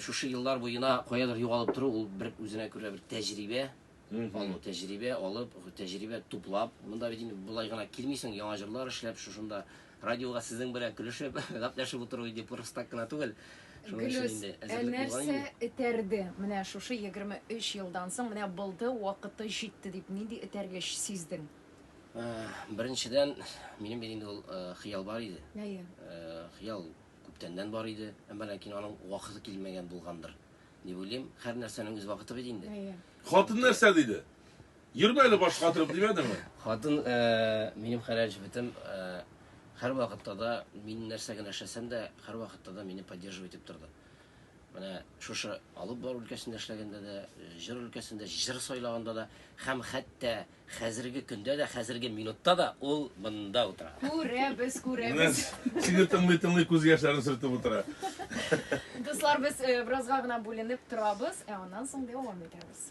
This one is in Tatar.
Шушы еллар буена каядыр югалып тору, ул бер үзенә күрә бер тәҗрибә алу, тәҗрибә алып, тәҗрибә туплап. Монда бит инде болай гына килмисең, яңа җырлар эшләп, шушында радиога сезнең белән көлешеп, гәпләшеп утыру инде просто так кына түгел. Гөлүс, ә нәрсә этәрде? Менә шушы 23 елдан соң, менә булды, вакыты җитте дип, нинди этәргеч сиздең? Беренчедән, минем бит инде ул хыял бар иде. Әйе. Хыял Күптәннән бар иде, әмма ләкин аның вакыты килмәгән булгандыр, дип уйлыйм. Һәрнәрсәнең үз вакыты бит инде. Әйе. Хатын нәрсә диде? Йөрмә әле баш катырып димәдеңме? Хатын, э, минем хәләл җебетем, э, һәрвакытта да мин нәрсә генә эшләсәм дә, һәрвакытта да мине поддерживать итеп торды. Менә шушы алып бару өлкәсендә эшләгәндә дә, җыр өлкәсендә, җыр сайлаганда да һәм хәтта Хәзерге көндә дә, хәзерге минутта да ул монда утыра. Күрәбез, күрәбез. Сине тыңлый-тыңлый күз яшьләрен сөртеп утыра. Дуслар, без беразга гына бүленеп торабыз, ә аннан соң дәвам итәбез.